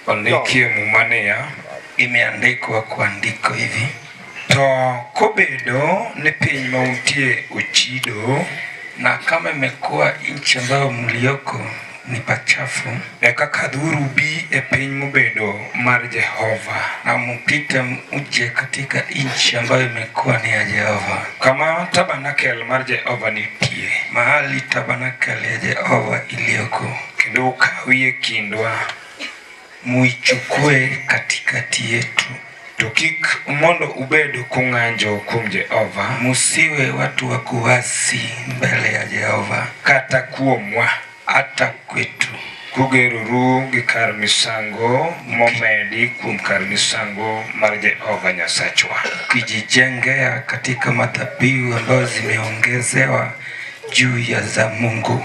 Ondikie Muma niya, imeandikwa kwa ndiko hivi, to kobedo ni piny ma untie ochido na kama imekuwa nchi ambayo mlioko ni pachafu, eka kadhuru bi e piny mobedo mar Jehova na mupite muje katika nchi ambayo imekuwa ni ya Jehova, kama tabernakel mar Jehova nitie, mahali tabernakel ya Jehova iliyoko. kendo ukawi e kindwa muichukue katikati yetu to kik mondo ubed kung'anjo kuom Jehova, musiwe watu wa kuasi mbele ya Jehova, kata kuomwa hata kwetu kugeroru gi kar misango momedi kuom kar misango mar Jehova Nyasachwa, kijijengea katika madhabihu ambayo zimeongezewa juu ya za Mungu.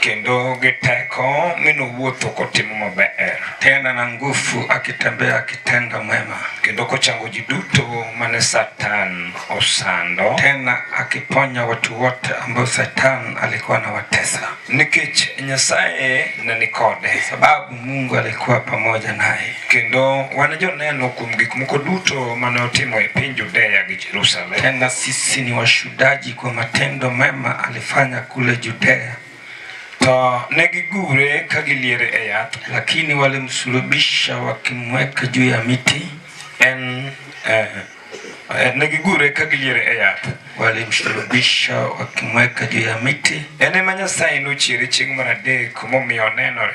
kendo gi teko mi nowuotho kotimo maber, tena na nguvu akitembea akitenda mema, kendo kochango ji duto mane Satan osando, tena akiponya watu wote ambao Satan alikuwa anawatesa, nikech Nyasaye ne ni kode, sababu Mungu alikuwa pamoja naye. Kendo wan joneno kuom gik moko duto mane otimo e piny Judea gi Jerusalem, tena sisi ni washudaji kwa matendo mema ali fanya kule Judea. To ne gigure ka giliere e yath, lakini walimsulubisha wakimweka juu ya miti en eh, eh ne gigure ka giliere e yath walimsulubisha wakimweka juu ya miti. En ema Nyasaye nochiere chieng' mar adek momiyo onenore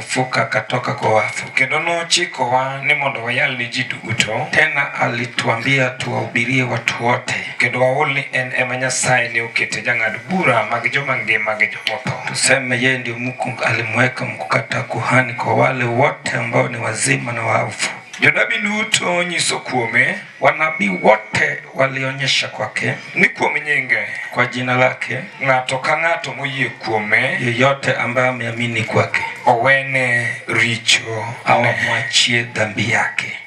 Fuka katoka kwa wafu. Kendo nochikowa ni mondo wayal ni ji duto. Tena alituambia tuwahubirie watu wote, kendo waol ni en ema Nyasaye ne okete jang'ad bura mag joma ngima gi jomotho. Tuseme yeye ndio Mungu alimweka mkuu kata kuhani kwa wale wote ambao ni wazima na wafu. Jonabi duto nyiso kuome Wanabii wote walionyesha kwake ni kuom nyinge, kwa jina lake, ng'ato ka ng'ato moyie kuome, yeyote ambaye ameamini kwake, owene richo au amwachie dhambi yake.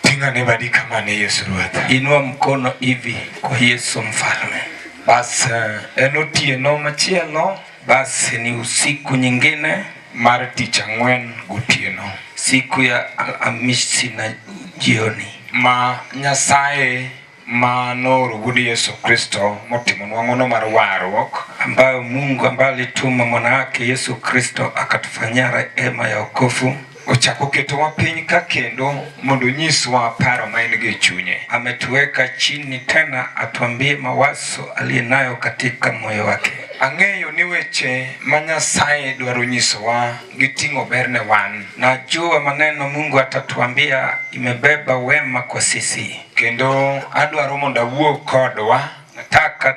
Tinga ne badi kama ne Yesu Ruoth, inua mkono hivi kwa Yesu Mfalme. Basi eh, en otieno machielo Basi ni usiku nyingine mara tich ang'wen gotieno. Siku ya Alhamisi na jioni. Ma Nyasaye ma nooro Wuod Yesu Kristo motimo nwang'ono mar warruok, ambayo Mungu ambaye alituma mwana wake Yesu Kristo akatufanyia rehema ya wokovu Ochako ketowa piny ka kendo mondo onyiswa paro ma en-go e chunye. Ametuweka chini tena atuambie mawazo aliye nayo katika moyo wake. Ang'eyo ni weche ma Nyasaye dwaro nyisowa giting'o ber ne wan. Najua maneno Mungu atatuambia imebeba wema kwa sisi. Kendo adwaro mondo awuo kodwa. Nataka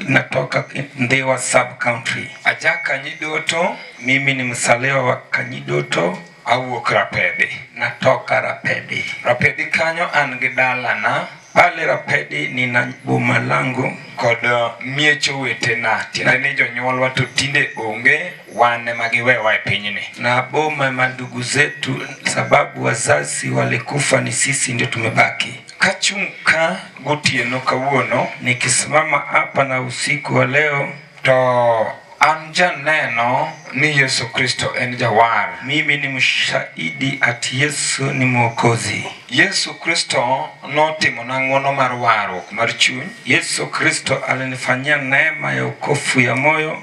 Natoka Ndewa sub county. Aja Kanyidoto, mimi ni msalewa wa Kanyidoto au Rapedi. Natoka Rapedi. Rapedi kanyo an gi dalana pale Rapedi nina boma langu kod uh, miech owetena tiende ni jonyuolwa to tinde onge wan ema giwewa e pinyni na boma ma ndugu zetu sababu wazazi walikufa ni sisi ndio tumebaki Kachung' ka gotieno kawuono nikisimama hapa na usiku wa leo to an janeno ni Yesu Kristo en jawar. Mimi ni mshahidi ati Yesu ni mwokozi. Yesu Kristo notimo na ng'wono mar warruok mar chuny. Yesu Kristo alinifanyia neema ya ukofu ya moyo.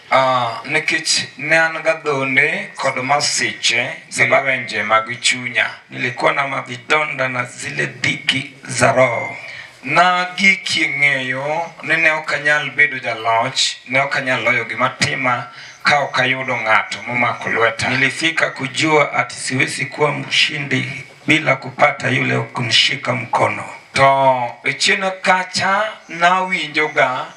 Uh, nikech ne an gadhonde kod masiche gi lwenje mag chunya, nilikuwa na mavidonda na zile dhiki za roho nagiki ng'eyo ni ne ok anyal bedo jaloch, ne ok anyal loyo gima tima ka ok ayudo ng'ato momako lweta. Nilifika kujua ati siwezi kuwa mshindi bila kupata yule kunishika mkono. To e chien kacha nawinjoga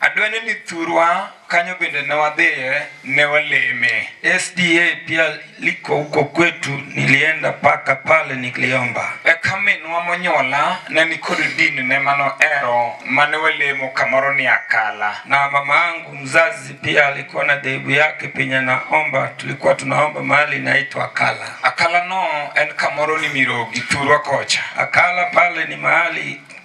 Adwene ni thurwa kanyo bende ne wadhiye ne waleme. SDA pia liko huko kwetu, nilienda paka pale nikliomba. Eka minwa monyola ne nikod dini ne mano ero mane walemo kamoro ni Akala, na mama yangu mzazi pia alikuwa na dhehebu yake penye naomba, tulikuwa tunaomba mahali inaitwa Akala. Akala no en kamoro ni Mirogi thurwa kocha. Akala pale ni mahali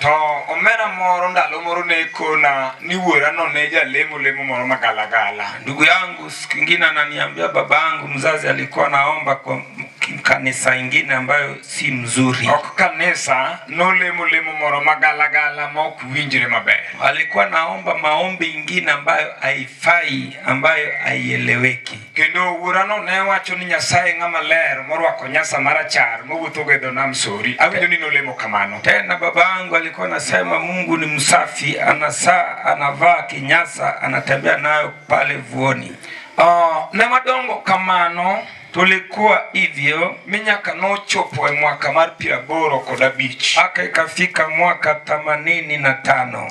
To omera moro ndalo moro ne kona ni wuora no ne jalemo lemo moro magalagala. Ndugu yangu siku ingine ananiambia baba yangu mzazi alikuwa naomba kwa kanisa ingine ambayo si mzuri. Ok kanisa nolemo lemo moro magalagala ma ok winjre maber. Alikuwa naomba maombi ingine ambayo haifai, ambayo haieleweki. Kendo wuorano ne wacho ni Nyasaye ng'ama ler morwako nyasa marachar mowuotho go e dho nam Sori. Awinjo ni nolemo kamano. Tena babangu alikuwa anasema Mungu ni msafi, anasaa anavaa kinyasa, anatembea nayo pale vuoni. Uh, ne madongo kamano tulikuwa hivyo minyaka nochopo e mwaka mar piero aboro kod abich aka ikafika mwaka themanini na tano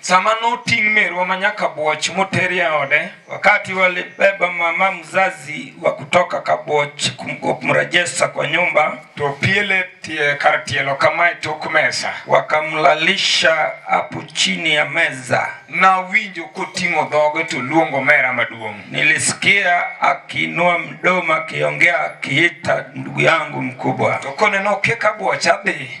Sama noting' merwa manyaka Bwoch moteri e ode. Wakati walibeba mama mzazi wa kutoka Kaboch kumrejesha kwa nyumba, tupiele tie kar tielo kama e tok mesa, wakamlalisha hapo chini ya meza. Nawinjo koting'o dhoge to luongo mera maduong'. Nilisikia akiinua mdomo akiongea akiita ndugu yangu mkubwa. To koneno keka Bwoch adhi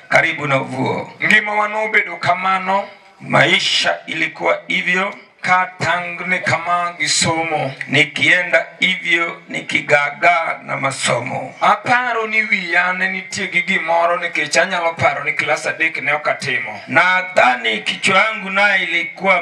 karibu na uvuo. Ngima wanobedo kamano, maisha ilikuwa hivyo katangni kama gisomo nikienda hivyo nikigaga na masomo aparo ni wiya ne nitie gi gimoro nikech anyalo paro ni klas adek ne okatimo nadhani kichwa yangu naye ilikuwa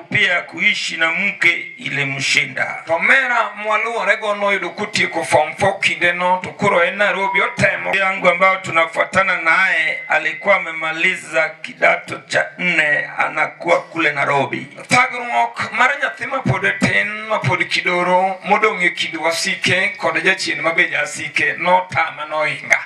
pia kuishi na mke ile mshinda to mera mwaluore go noyudo kutieko form 4 kinde no to koro en Nairobi otemo yangu ambayo tunafuatana naye alikuwa amemaliza kidato cha nne anakuwa kule Nairobi thagruok mar nyathi mapod tin mapod kidoro modong' e kind wasike kod jachien mabe jasike notama noinga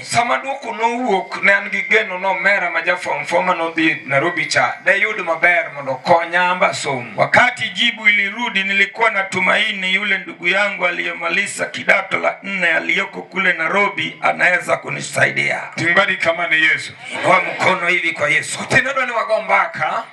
Sama duoko nowuok, ne an gi geno ni omera ma ja form four ma nodhi Nairobi cha dayud maber mondo okonya amba somo. Wakati jibu ilirudi, nilikuwa na tumaini yule ndugu yangu aliyemaliza kidato la nne aliyoko kule Nairobi anaweza kunisaidia. Timbari kama ni Yesu. Inua mkono hivi kwa Yesu. Tena ndo ni wagombaka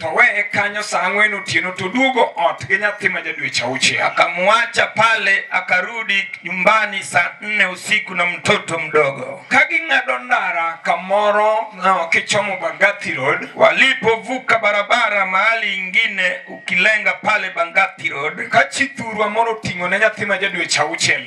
to weye kanyo saa ang'wen otieno to duogo ot gi nyathi ma jadweche auchiel. Akamwacha pale akarudi nyumbani saa nne usiku na mtoto mdogo. Kaging'ado ndara kamoro na wakichomo Bangati Road, walipovuka barabara mahali ingine ukilenga pale Bangati Road, kachithurwa moro oting'o ne nyathi ma jadweche auchiel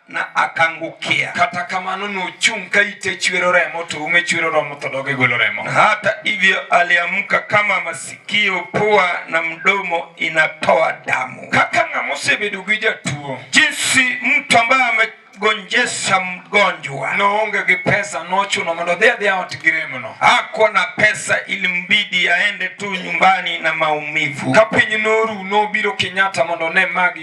na akangukia kata kamano nochung' ka ite chwero remo to ume chwero romo to doge golo remo na hata hivyo aliamka kama masikio pua na mdomo inatoa damu kaka ng'ama osebedo gi jatuo jinsi mtu ambaye ame gonjesha mgonjwa noonge gi pesa nochuno mondo dhi adhiya ot gi remono ako na pesa ili mbidi aende tu nyumbani na maumivu ka piny noru nobiro Kenyatta mondo ne magi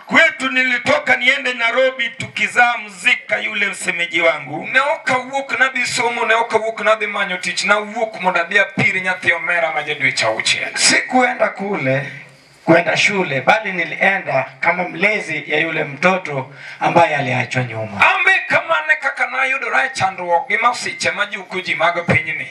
kwetu nilitoka niende Nairobi tukizaa mzika yule msemeji wangu ne ok awuok nadhi somo ne ok awuok nadhi manyo tich nawuok mondo adhi apir nyathi omera ma jadweche auchiel sikuenda kule kwenda shule bali nilienda kama mlezi ya yule mtoto ambaye aliachwa nyuma ambe kamane kaka nayudora e chandruok gi masiche ma juko ji mag pinyni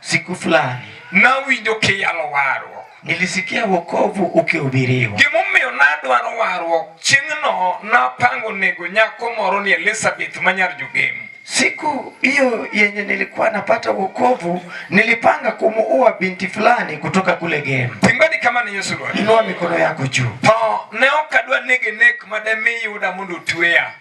siku fulani nawinjo kiyalo warruok nilisikia wokovu ukihubiriwa gimomiyo nadwaro warruok chieng'no napango nego nyako moro ni elizabeth ma nyar jogem siku hiyo yenye nilikuwa napata wokovu nilipanga kumuua binti fulani kutoka kule gem timbani kama ni yesu lwani inua mikono yako juu to ne ok adwa nege nek ma demi yuda mondo otweya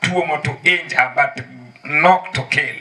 tuomo to injure but not to kill.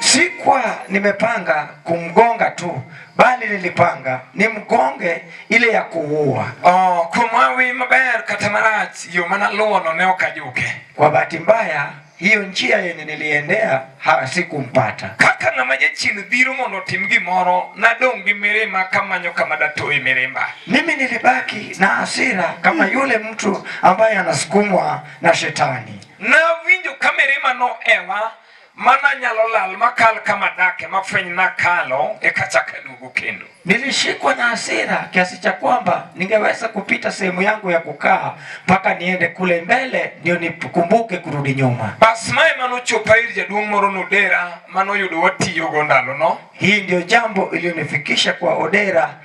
Sikuwa nimepanga kumgonga tu bali nilipanga nimgonge ile ya kuua. Oh, kumwawi maber kata marach yo mana luono ne okajuke. Kwa bahati mbaya hiyo njia yenye niliendea hasikumpata. kaka ng'ama jachien dhiro mondo otim gimoro nadong' gi mirima kamanyo kama datoe mirimba. Mimi nilibaki na hasira kama yule mtu ambaye anasukumwa na shetani. Nawinjo ka mirima noewa mana nyalo lal makal kama dake mafweny na kalo ekachaka duogo kendo. Nilishikwa na hasira kiasi cha kwamba ningeweza kupita sehemu yangu ya kukaa mpaka niende kule mbele ndio nikumbuke kurudi nyuma. Bas mae manochopa ir jaduong' moro nodera manoyudo watiyogo ndalono. Hii ndio jambo iliyonifikisha kwa Odera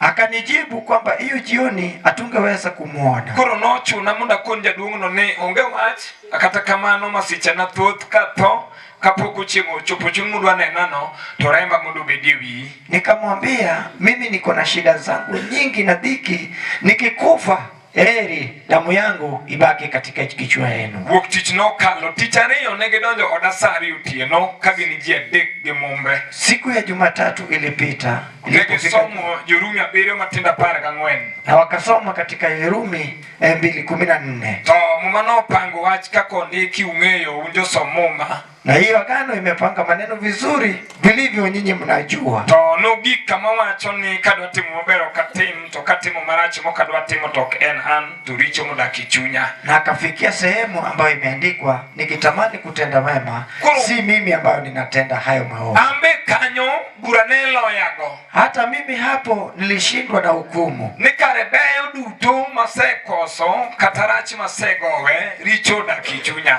Akanijibu kwamba hiyo jioni hatungeweza kumwona. Koro nochuna mondo akon jaduong'no ni onge wach, kata kamano masiche na thoth ka tho kapok uchieng' ochopo chieng' mudwa nenano to remba mondo obedie wiyi. Nikamwambia mimi niko na shida zangu nyingi na dhiki nikikufa Heri damu yangu ibaki katika kichwa yenu. Wuok tich nokalo tich ariyo ne gidonjo oda saa ariyo otieno ka gin ji adek gi mumbe. Siku ya Jumatatu ilipita ne gisomo Jorumi abiriyo matindo apar gang'wen na wakasoma katika Yerumi eh, mbili kumi na nne to muma nopango wach kaka ondiki ung'eyo un josom muma Na hiyo agano imepanga maneno vizuri vilivyo, nyinyi mnajua. To nogik kama wacho ni kadwa timo maber ok atim, to katimo marach mok adwa timo to ok en an, to richo modak e chunya. Na akafikia sehemu ambayo imeandikwa, nikitamani kutenda mema, si mimi ambayo ninatenda hayo maovu. Ambe kanyo bura ne loyago. Hata mimi hapo nilishindwa na hukumu. Nikarebeyo duto masekoso katarach masegowe richo odak e chunya.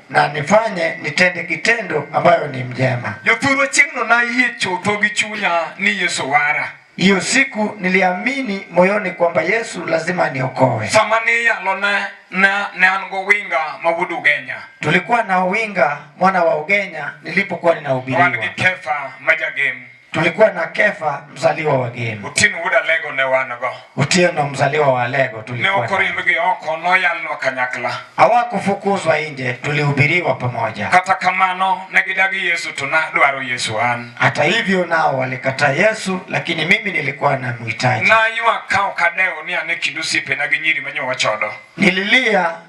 na nifanye nitende kitendo ambayo ni mjema. Jothurwa chieng'no nayie chutho gi chunya ni Yesu wara. Hiyo siku niliamini moyoni kwamba Yesu lazima niokoe. Sama niyalo ne na ne an gowinga ma wuod Ugenya. Tulikuwa na Owinga mwana wa Ugenya nilipokuwa ninahubiriwa. Wan gi Kefa ma jagem. Tulikuwa na Kefa mzaliwa wa Gemi. Otieno wuod Alego ne wan go. Otieno mzaliwa wa Alego tulikuwa. Ne okorimbgi oko noyalnwa kanyakla. Hawakufukuzwa nje, tulihubiriwa pamoja. Kata kamano ne gidagi Yesu to nadwaro Yesu an. Hata hivyo nao walikataa Yesu lakini mimi nilikuwa namhitaji. Naywak ka ok adewo ni an e kind osiepena gi nyiri manyo wachodo. Nililia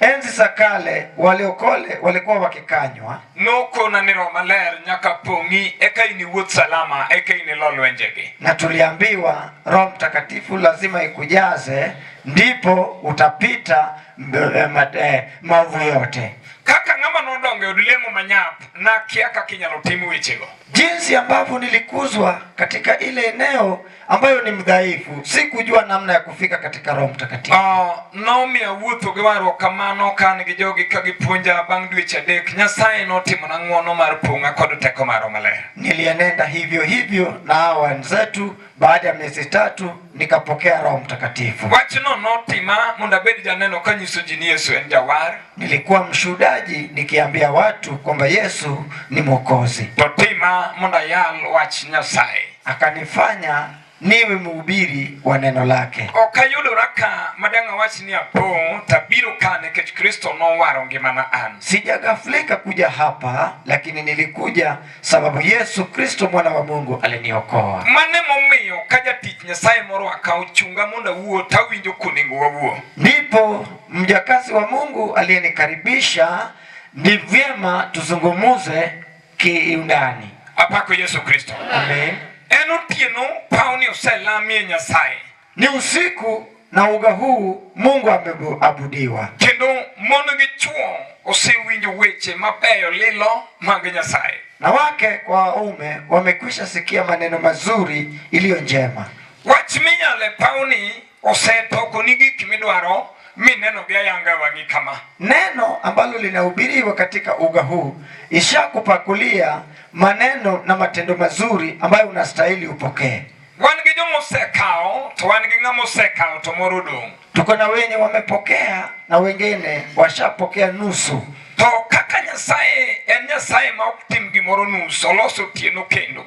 Enzi za kale waliokole walikuwa wakikanywa nuko na ni roma ler nyaka pong'i eka ini wuoth salama eka ini lo lwenjegi. Na tuliambiwa Roho Mtakatifu lazima ikujaze ndipo utapita eh, eh, maovu yote. Kaka ng'ama nodonge od lemo manyap na kia kaka inyalo tim wechego. Jinsi ambavyo nilikuzwa katika ile eneo ambayo ni mdhaifu, si kujua namna ya kufika katika Roho Mtakatifu. Uh, Naomi awuotho gi warruok kamano ka an gi jogi ka gipuonja bang' dweche adek. Nyasaye notimona ng'wono mar pong'a kod teko mar Roho Maler. Nilienenda hivyo hivyo na hawa wenzetu, baada ya miezi tatu nikapokea Roho Mtakatifu. Wachno notima mondo abed janeno kanyiso ji ni Yesu en jawar. Nilikuwa mshuhudaji nikiambia watu kwamba Yesu ni Mwokozi. To tima mondo ayal wach Nyasaye akanifanya niwe mhubiri wa neno lake. Ok ayudora ka madang' awach ni apo tabiro ka nikech Kristo nowaro ngimana an. Sijagaflika kuja hapa, lakini nilikuja sababu Yesu Kristo mwana wa Mungu aliniokoa. Mane momiyo ka jatich Nyasaye moro akawo chunga mondo awuo, tawinjo konego wawuo. Ndipo mjakazi wa Mungu aliyenikaribisha, ni vyema tuzungumuze kiundani. Apako Yesu Kristo. Amen. En otieno pawni oselamie Nyasaye. Ni usiku na uga huu Mungu ameabudiwa. Kendo mon gi chwo osewinjo weche mabeyo lilo mag Nyasaye. Na wake kwa waume wamekwisha sikia maneno mazuri iliyo njema. Wach minyale pawni Osetoko ni gik midwaro mi neno vya yanga wangi kama. Neno ambalo linahubiriwa katika uga huu ishakupakulia maneno na matendo mazuri ambayo unastahili upokee. Wan gi joma osekao to wan gi ng'ama osekao to moro dong'. Tuko na wenye wamepokea na wengine washapokea nusu. To kaka Nyasaye en Nyasaye ma ok tim gimoro nusu, oloso otieno kendo.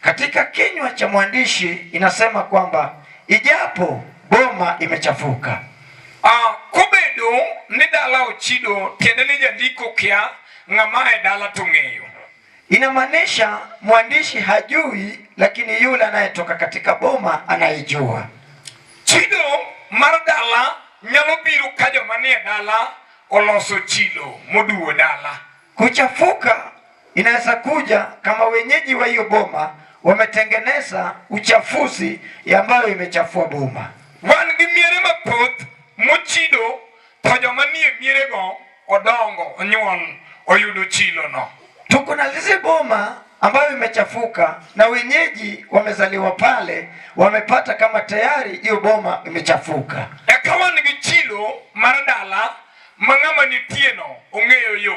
Katika kinywa cha mwandishi inasema kwamba ijapo boma imechafuka uh, kubedo ni dala ochido tiende ni jandiko kia ng'amae dala tung'eyo. Inamaanisha mwandishi hajui, lakini yule anayetoka katika boma anayejua. Chido mar dala nyalo biro ka joma nie dala oloso chilo moduwo dala. Kuchafuka inaweza kuja kama wenyeji wa hiyo boma wametengeneza uchafuzi ambayo imechafua boma. wan gi miere mathoth mochido to joma nie mierego odongo onyuol oyudo chilo no. Tuko na lise boma ambayo imechafuka na wenyeji wamezaliwa pale, wamepata kama tayari hiyo boma imechafuka. Eka wan gi chilo mar dala ma ng'ama nitieno ong'eyo yo